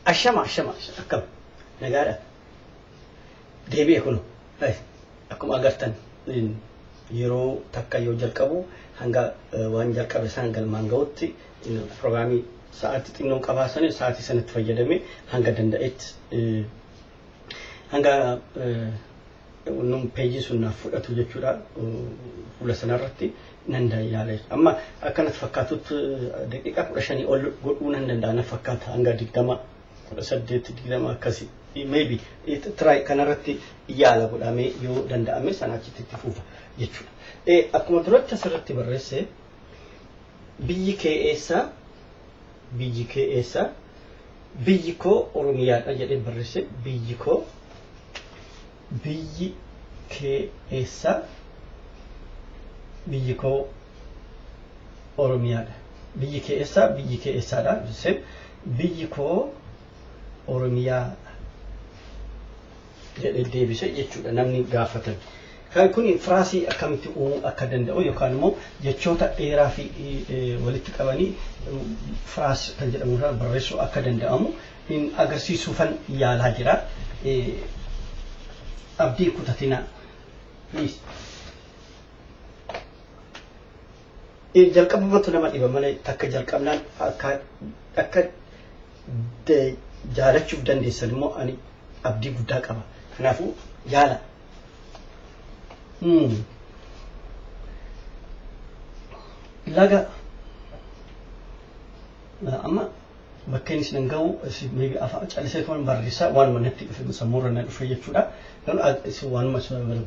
Ashama ashama akkam nagaadha deebi'e kun akkuma agartan yeroo takka yoo jalqabu hanga waan jalqabe isaan galmaan ga'utti pirogiraamii sa'aatii xinnoo qabaa sana sa'aatii sanatti fayyadamee hanga danda'etti hanga Nuun peejii sun naaf fudhatu jechuudha fuula sanarratti nan yaale. Amma akkanatti fakkaatutti daqiiqaa kudha shanii ol godhuu nan danda'a na fakkaata hanga digdama kudha saddeet digdama akkasi. Maybe try kanarratti yaala godhamee yoo danda'ame sana achitti itti fufa jechuudha. Akkuma duratti asirratti barreesse biyyi kee eessa biyyi kee eessa Biyyi koo Oromiyaadha jedhee barresse biyyi koo biyyi kee eessa biyyi koo Oromiyaadha biyyi kee eessa biyyi kee eessaadha jesseen biyyi koo Oromiyaadha jedhee deebise jechuudha namni gaafatan. Kan kun firaasii akkamitti uumuu akka danda'u yookaan immoo jechoota dheeraa fi eh, walitti qabanii eh, firaas kan jedhamu irraa barreessuu akka danda'amu hin agarsiisuufan yaalaa jira. Eh, Abdii kutatinaa. Please. jalqabumatu nama dhiba malee takka jalqabnaan akka akka jaalachuuf dandeessan immoo ani abdii guddaa qaba. Kanaafuu yaala. Laga amma bakka inni isin gahu maybe afaan callisee kan barreessaa waan manatti dhufe sammuurra na dhufe jechuudha. Garuu isin waanuma isin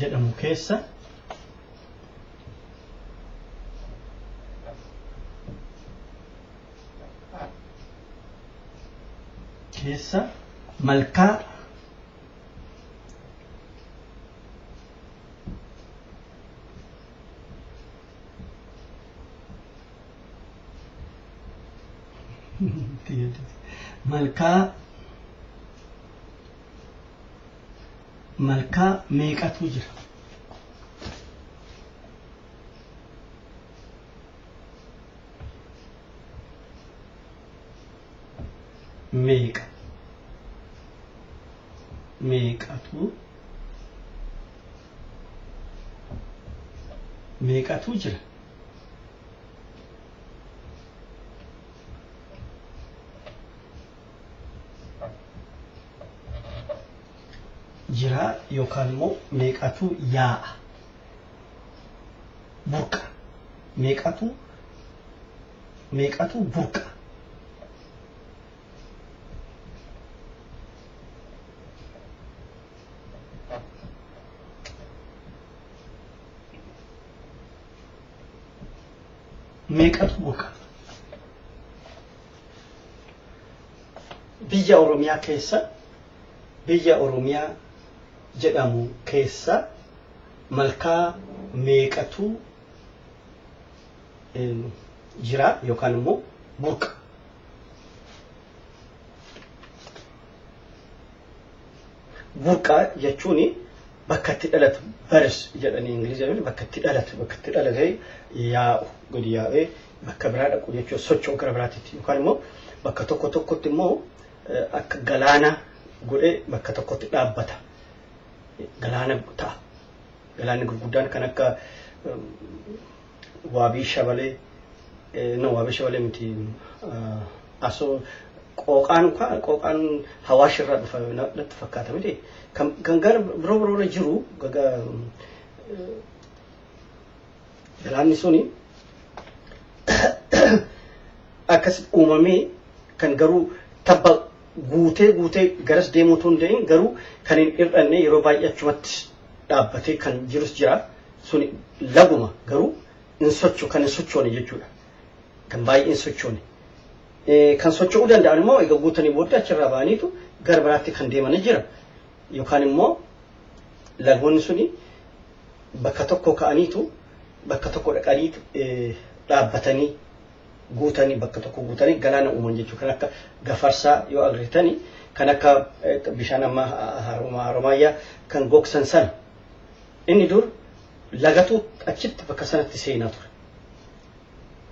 jedhamu keessa keessa malkaa malkaa malkaa meeqatu jira meeqa meeqatu meeqatu jira jiraa yookaan immoo meeqatu yaa'a burqa meeqatu meeqatu burqa meeqatu boqa biyya oromiyaa keessa biyya oromiyaa jedhamu keessa malkaa meeqatu em, jira yookaan immoo burqa Burqaa jechuun bakka itti dhalatu baris jedhanii Ingilizii bakka itti dhalatu bakka itti dhalatee yaa'u gadi yaa'ee bakka biraa dhaqu jechuun socho'u gara biraatitti yookaan immoo bakka tokko tokkotti immoo akka galaanaa godhee bakka tokkotti dhaabbata. Galaana ta'a. Galaanni gurguddaan kan akka waabii shabalee eh, no waabii shabalee miti ah, asoo qooqaan ka- qooqaan hawaash irraa dhufa na- natti fakkaata miti kan kan gara biroo biroo irra jiru gaga eh, galaanni suni akkas uumamee kan garuu tabba guutee guutee garas deemuu utuu hin ta'in garuu kan hin hir'anne yeroo baay'ee achumatti dhaabbatee kan jirus jira Suni laguma garuu hin socho kan hin sochoone jechuudha. Kan baay'ee hin sochoone. Kan socho'uu danda'an immoo egaa guutanii booddee achirraa ba'aniitu gara biraatti kan deemanii jira. Yookaan immoo lagoonni suni bakka tokko ka'aniitu bakka tokko dhaqanii dhaabbatanii guutanii bakka tokko guutanii galaana uuman jechuudha. Kan akka gafarsaa yoo argitanii kan akka bishaan ammaa haromaayyaa kan gogsan sana Inni dur lagatu achitti bakka sanatti seenaa ture.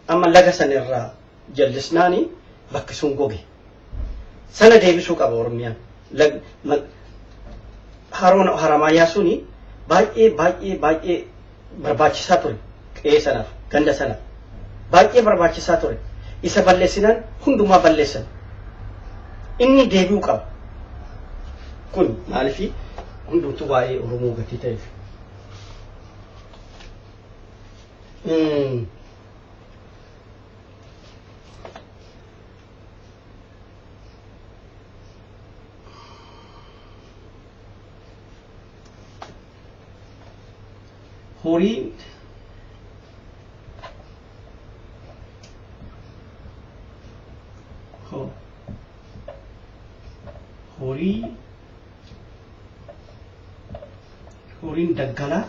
Amma laga sana irraa jallisnaani bakki sun goge. Sana deebisuu qaba Oromiyaan. Lag- ma- Haroon haramaayaa suni baay'ee baay'ee baay'ee barbaachisaa ture. Qe'ee sanaaf, ganda sanaaf, baay'ee barbaachisaa ture. Isa balleessinaan hundumaa balleessan. Inni deebi'uu qaba. Kun maaliif hundumtuu waa'ee Oromoo gatii ta'eef. Horiin horii horiin daggalaa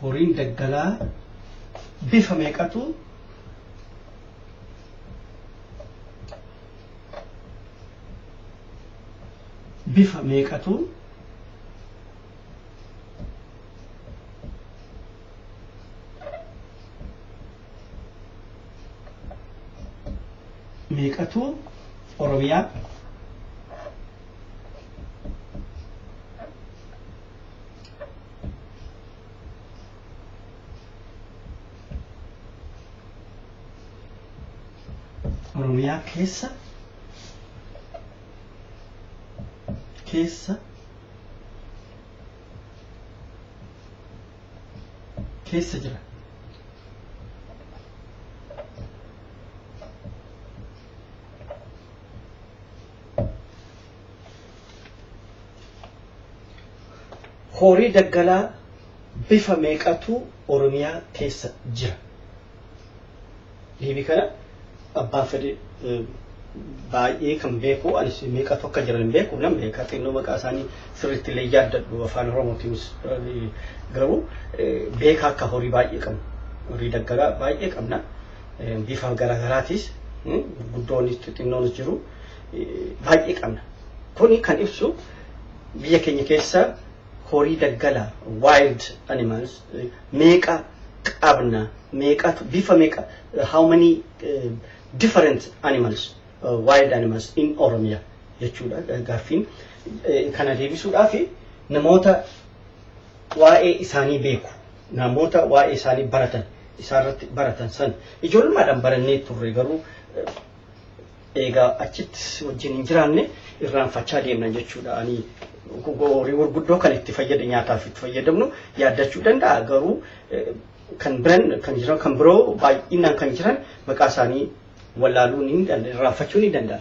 horiin daggalaa bifa meeqatu bifa meeqatu meeqatu oromiyaa oromiyaa keessa keessa keessa jira Horii daggalaa bifa meeqatu Oromiyaa keessa jira? Deebii kana abbaan fedhe baay'ee kan beeku anis meeqatu akka jiran hin beeku nan beeka xinnoo maqaa isaanii sirriitti illee yaaddadhu afaan oromootiinis garuu beekaa akka horii baay'ee qabna horii daggalaa baay'ee qabna bifa garaagaraatis guddoonnis xixinnoonis jiru baay'ee qabna. Kuni kan ibsu biyya keenya keessa horii daggala wild animals meeqa qabna meeqatu bifa meeqa how many uh, different animals uh, wild animals in Oromia jechuudha gaaffiin kana deebisuudhaaf namoota waa'ee isaanii beeku namoota waa'ee isaanii baratan isaarratti baratan san ijoollumaadhaan barannee turre garuu Eegaa achitti si wajjin hin jiraanne irraanfachaa deemna jechuudha. Ani horii gurguddoo kan itti fayyada nyaataaf itti fayyadamnu yaaddachuu danda'a garuu kan biran kan jiran kan biroo baay'inaan kan jiran maqaa isaanii wallaaluu ni danda'a irraanfachuu ni danda'a.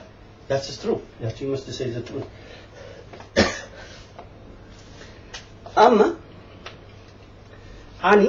That is true. You have to you must say the truth. Amma ani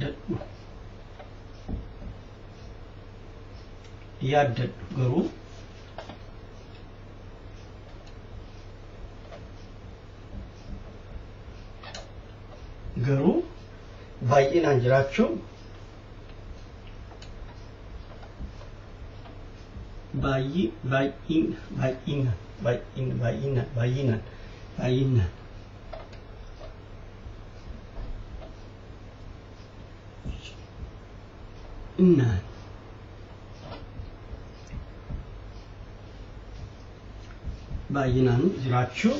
dadhu yaaddadhu garuu garuu baay'inaan jiraachuu baay'ee baay'in baay'ina baay'in baay'ina baay'inaan baay'inaan Innaan baay'inaan jiraachuu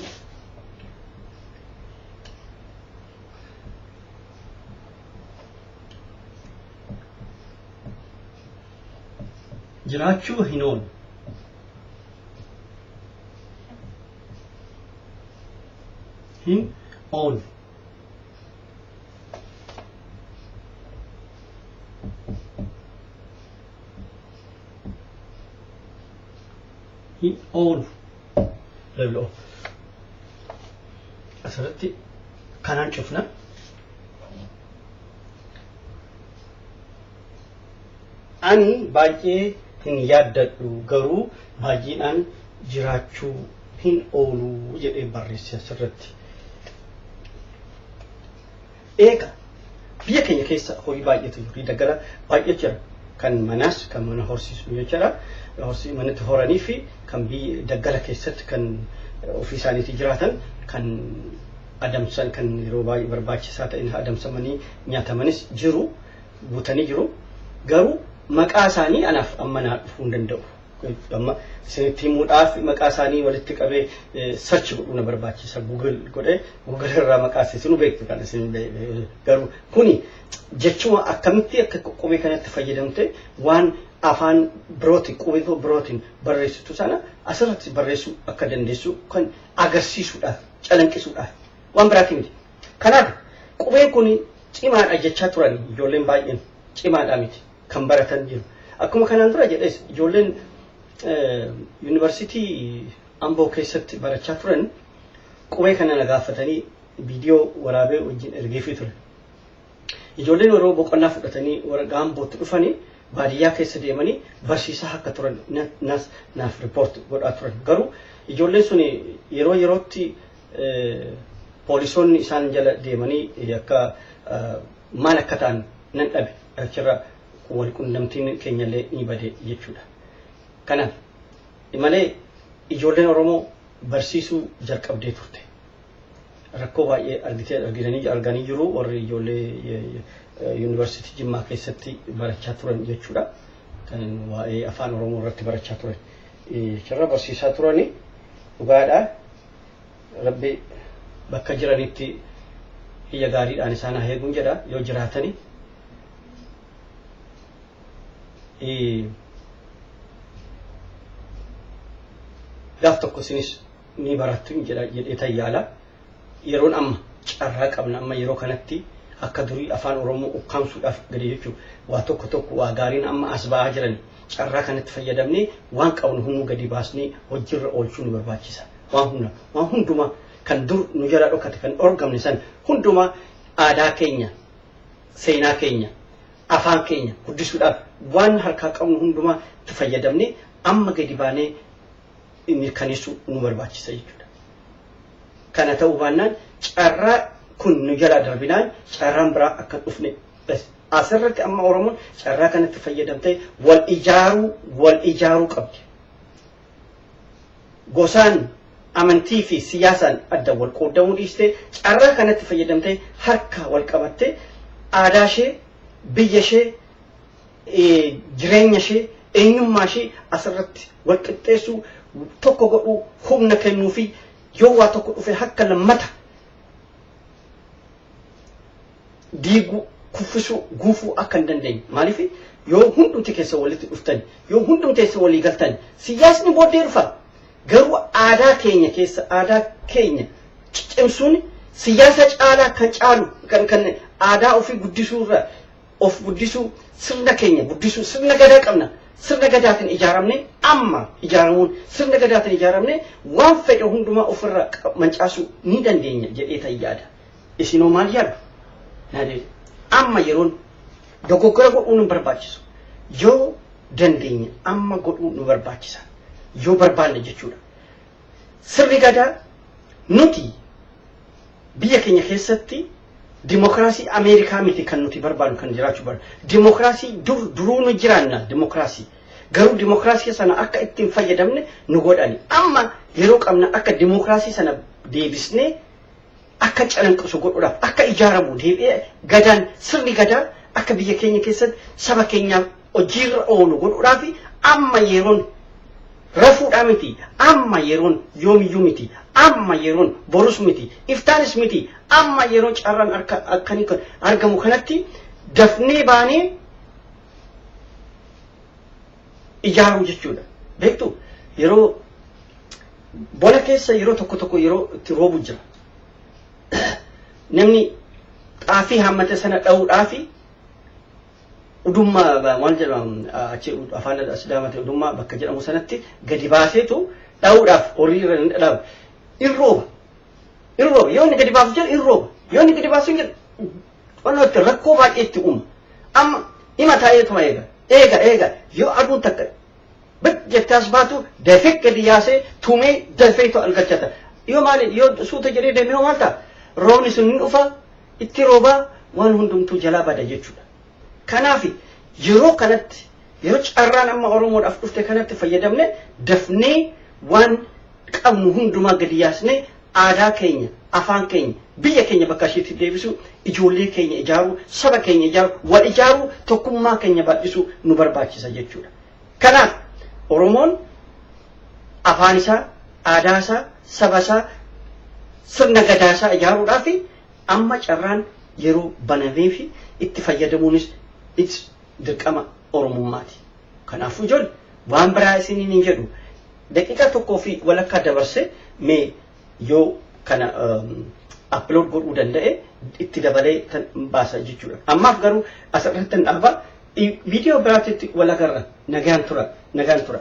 jiraachuu hin oolu. hin oolu. hin oolu. Level of. Asirratti kanaan cufna. Ani baay'ee hin yaaddadhu, garuu baay'eedhaan jiraachuu hin oolu jedhee barreesse asirratti. Eega biyya keenya keessa horii baay'eetu jiru, daggala baay'ee jira. Kan manaas kan mana horsiisu jechuudha. Horsii manatti horanii fi kan biyya daggala keessatti kan ofii isaaniitii jiraatan kan adamsan kan yeroo baay'ee barbaachisaa ta'in adamsamanii nyaatamanis jiru. guutanii jiru. Garuu maqaa isaanii anaaf amma naa dhufuu hin danda'u. Amma isinitti himuudhaaf maqaa isaanii walitti qabee sarchi godhuu na barbaachisa. Google godhee Google irraa maqaa isinuu beektu kan isin garuu kuni jechuma akkamitti akka qubee kanatti fayyadamte waan afaan birooti qubee birootiin barreessitu sana asirratti barreessuu akka dandeessu kan agarsiisuudhaaf calanqisuudhaaf waan biraatiin miti. Kanaaf qubeen kun cimaadha jechaa turan ijoolleen baay'een. Cimaadha miti kan baratan jiru. Akkuma kanaan dura jedhes ijoolleen yuunivarsiitii Amboo keessatti barachaa turan qubee kana na gaafatanii viidiyoo waraabee wajjin ergeefii ture. Ijoolleen yeroo boqonnaa fudhatanii warra gaambootti dhufanii baadiyyaa keessa deemanii barsiisaa akka turan naaf riippoorti godhaa turan. Garuu ijoolleen sun yeroo yerootti Poolisoonni isaan jala deemanii akka maal akka ta'an nan dhabe achirra wal qunnamtiin keenyallee ni bade jechuudha. Kanaaf malee ijoolleen Oromoo barsiisuu jalqabdee turte. Rakkoo baay'ee argitee argitanii arganii jiru warri ijoollee yuunivarsiitii Jimmaa keessatti barachaa turan jechuudha. Kan waa'ee afaan Oromoo irratti barachaa turan. Achirra barsiisaa turanii dhugaadhaa. Rabbi bakka jiranitti iyya gaariidhaan isaan haa eeguun jedha yoo jiraatani. Gaaf tokko isinis ni barattu hin jedha jedhee tayyaala. Yeroon amma carraa qabna amma yeroo kanatti akka durii afaan Oromoo ukkaamsuudhaaf gadi jechuun waa tokko tokko waa gaariin amma as ba'aa jirani. Carraa kanatti fayyadamnee waan qabnu hunduu gadi baasnee hojjiirra oolchuu nu barbaachisa. Waan hunda, waan hundumaa kan dur nu jalaa dhokate, kan dhorgamne san hundumaa aadaa keenya, seenaa keenya, afaan keenya guddisuudhaaf waan harkaa qabnu hundumaa itti fayyadamnee amma gadi baanee mirkaneessuu nu barbaachisa jechuudha. Kana ta'uu baannaan carraa kun nu jalaa darbinaan carraan biraa akka hin dhufne Asirratti amma Oromoon carraa kanatti fayyadamtee wal ijaaruu wal ijaaruu qabdi. Gosaan amantii fi siyaasaan adda wal qooddamuu dhiistee carraa kanatti fayyadamtee harka wal qabattee aadaa ishee biyya ishee jireenya ishee eenyummaa ishee asirratti wal qixxeessuu tokko godhuu humna kennuu fi yoo waa tokko dhufe harka lammata diiguu, kuffisuu, guufuu akka hin dandeenye. Maaliif yoo hundumti keessan walitti dhuftan, yoo hundumti keessan walii galtan, siyaasni booddee dhufa. Garuu aadaa keenya keessa aadaa keenya cimsuun siyaasa caalaa kan caalu kan kan aadaa ofii guddisuu irra of guddisuu sirna keenya guddisuu sirna gadaa qabna. Sirna gadaatiin ijaaramne amma ijaaramuun sirna gadaatiin ijaaramne waan fedhe hundumaa ofirra mancaasuu ni dandeenya jedhee tan yaada. Isin hoo maal yaaddu? Naa deebi'e. Amma yeroon dogoggora godhuun hin barbaachisu. Yoo dandeenye amma godhuu nu barbaachisa. Yoo barbaanne jechuudha. Sirni gadaa nuti biyya keenya keessatti dimokiraasii Ameerikaa miti kan nuti barbaadu kan jiraachuu barbaadu. Dimokiraasii dur duruu nu jiraanna dimokiraasii. Garuu dimokiraasii sana akka ittiin fayyadamne nu godhani. Amma yeroo qabna akka dimokiraasii sana deebisnee akka calanqisu godhuudhaaf akka ijaaramu deebi'ee gadaan sirni gadaa akka biyya keenya keessatti saba keenyaaf hojiirra oolu godhuudhaaf amma yeroon rafuudhaa miti amma yeroon yoomiyyuu miti amma yeroon borus miti iftaanis miti amma yeroo carraan harka akkanii kan argamu kanatti dafnee baanee ijaaruu jechuudha. Beektu yeroo bona keessa yeroo tokko tokko yeroo itti roobu jira. Namni xaafii hammate sana dha'uudhaa fi udummaa maal jedhamu achi afaan asidaamate udummaa bakka jedhamu sanatti gadi baaseetu dha'uudhaaf horii irra hin dhadhaabu. In rooba. In rooba. Yoo inni gadi baasu jedhu in rooba. Yoo inni gadi baasu hin jedhu Xiqqoon itti rakkoo baay'ee itti uuma. Amma ima taa'eetuma eega. Eega eega yoo aduun takka bid jettee as baatu dafee gadi yaasee tumee dafeetu argachata. Yoo maali yoo suuta jedhee deemee hoo maal ta'a? Roobni sun hin dhufa itti roobaa waan hundumtuu jalaa bada jechuudha. Kanaaf yeroo kanatti yeroo carraan amma Oromoodhaaf dhufte kanatti fayyadamne dafnee waan qabnu hundumaa gadi yaasnee Aadaa keenya, afaan keenya, biyya keenya bakka ishiitti deebisuu, ijoollee keenya ijaaruu, saba keenya ijaaruu, wal ijaaruu, tokkummaa keenya bal'isuu nu barbaachisa jechuudha. Kanaaf Oromoon afaan isaa, aadaa isaa, saba isaa, sirna gadaa isaa ijaaruudhaaf amma carraan yeroo banameefi itti fayyadamuunis it's dirqama Oromummaati. Kanaafuu ijoolle waan biraa isiniin hin jedhu. Daqiiqaa tokkoo fi walakkaa dabarse mee yoo kana upload godhuu danda'e itti dabalee kan baasa jechuudha. Ammaaf garuu asirratti dhaaba viidiyoo biraatti wal agarra nagaan tura nagaan tura.